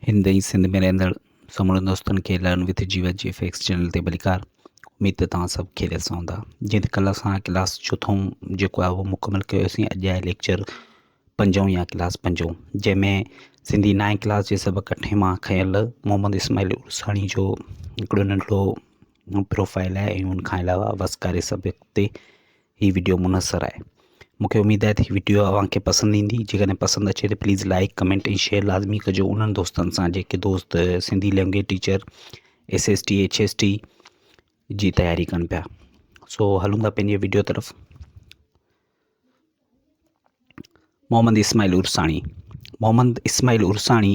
هند ۽ سنڌ ۾ رهندڙ سمورن دوستن کي learn with Jeevat G F X channel تي ڀليڪار. اميد ته توهان سڀ کيريت سان هوندا. جيئن ته ڪلهه اسان ڪلاس چوٿون جيڪو آهي اهو مڪمل ڪيوسين اڄ آهي ليڪچر پنجون يا ڪلاس پنجون جنهن ۾ سنڌي نائين ڪلاس جي سبق اٺين مان کنيل محمد اسماعيل عرساڻي جو هڪڙو ننڍڙو پروفائل آهي ۽ ان کان علاوه وسڪاري سبق تي هي ويڊيو منحصر آهي مون کي اميد آهي ته هي ويڊيو اوهان کي پسند ايندي جيڪڏهن پسند اچي ته پليز لائڪ ڪمينٽ ۽ شيئر لازمي ڪجو انهن دوستن سان جيڪي دوست Sindhi language teacher S S T H S T جي تياري ڪن پيا سو هلون ٿا پنهنجي ويڊيو طرف محمد اسماعيل عرساڻي محمد اسماعيل عرساڻي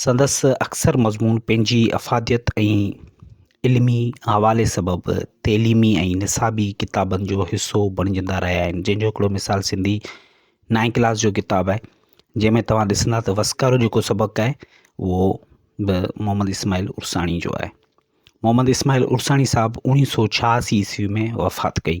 سندس اڪثر مضمون پنهنجي افاديت ۽ علمي حوالي سبب تعليمي ۽ نصابي ڪتابن جو حصو بڻجندا رهيا آهن جنهن جو هڪڙو مثال سنڌي نائين ڪلاس جو ڪتاب آهي جنهن ۾ توهان ڏسندا ته وسڪارو جيڪو سبق آهي اهو به محمد اسماعيل عرساڻي جو آهي محمد اسماعيل عرساڻي صاحب اوڻيهه سو ڇهاسي عيسوي ۾ وفات ڪئي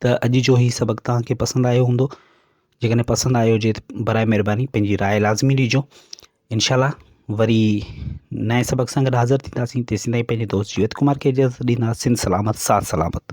ته اڄ جو هي سبق توهان کي پسند آيو هوندو جيڪڏهن پسند آيو هجي ته برائي مهرباني پنهنجي راء لازمي ڏيجو انشاء الله وري نئين سبق سان گڏ حاضر ٿينداسين تيسين تائين پنهنجي دوست جيوت ڪمار کي اجازت ڏينداسين سلامت ساٿ سلامت